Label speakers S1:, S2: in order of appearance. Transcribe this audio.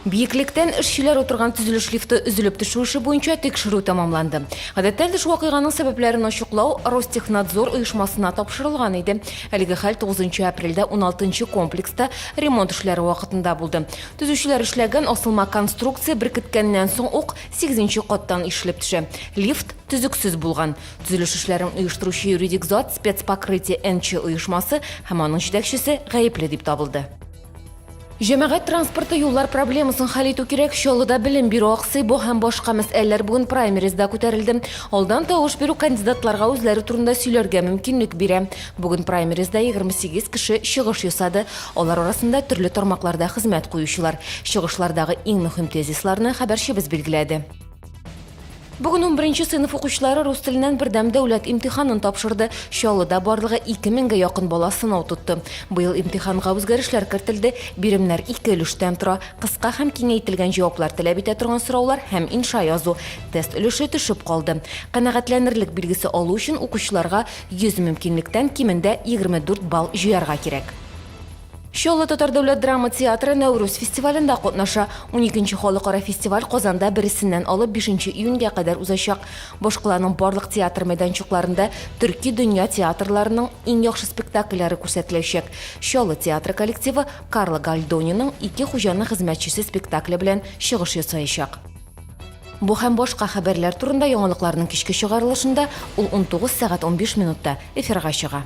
S1: Биеклектән эшчеләр утырган төзелеш лифты өзелеп төшү эше буенча тикшерү тәмамланды. Гадәттә төш вакыйганың сәбәпләрен ачыклау Ростехнадзор оешмасына тапшырылган иде. Әлеге хәл 9 апрельдә 16 комплекста ремонт эшләре вакытында булды. Төзүчеләр эшләгән асылма конструкция беркеткәннән соң ук 8 каттан ишелеп төшә. Лифт төзексез булган. Төзелеш эшләрен оештыручы юридик зат спецпокрытие НЧ оешмасы һәм аның җитәкчесе гаепле дип табылды. Җәмәгать транспорты юллар проблемасын хәл итү кирәк. Чаллыда белем бирү аксый, бу һәм башка мәсьәләләр бүген праймеризда күтәрелде. Алдан тавыш бирү кандидатларга үзләре турында сөйләргә мөмкинлек бирә. Бүген праймеризда 28 кеше чыгыш ясады. Алар арасында төрле тармакларда хезмәт куючылар. Чыгышлардагы иң мөһим тезисларны хәбәрчебез билгеләде. Бүген 11 сыйныф укучылары рус теленнән бердәм дәүләт имтиханын тапшырды. Чаллыда барлыгы 2000гә якын бала сынау тотты. Быел имтиханга үзгәрешләр кертелде. Биремнәр ике өлештән тора. Кыска һәм киңәйтелгән җаваплар таләп итә торган сораулар һәм инша язу. Тест өлеше төшеп калды. Канәгатьләнерлек билгесе алу өчен укучыларга 100 мөмкинлектән кимендә 24 балл җыярга кирәк. Чаллы татар дәүләт драма театры Нәүрүз фестивалендә катнаша. Уникенче халыкара фестиваль Казанда бересеннән алып бишенче июньгә кадәр узачак. Башкаланың барлык театр мәйданчыкларында төрки дөнья театрларының иң яхшы спектакльләре күрсәтеләчәк. Чаллы театры коллективы Карло Гальдониның Ике хуҗаның хезмәтчесе спектакле белән чыгыш ясаячак. Бу һәм башка хәбәрләр турында яңалыкларның кичке чыгарылышында, ул унтугыз сәгать унбиш минутта, эфирга чыга.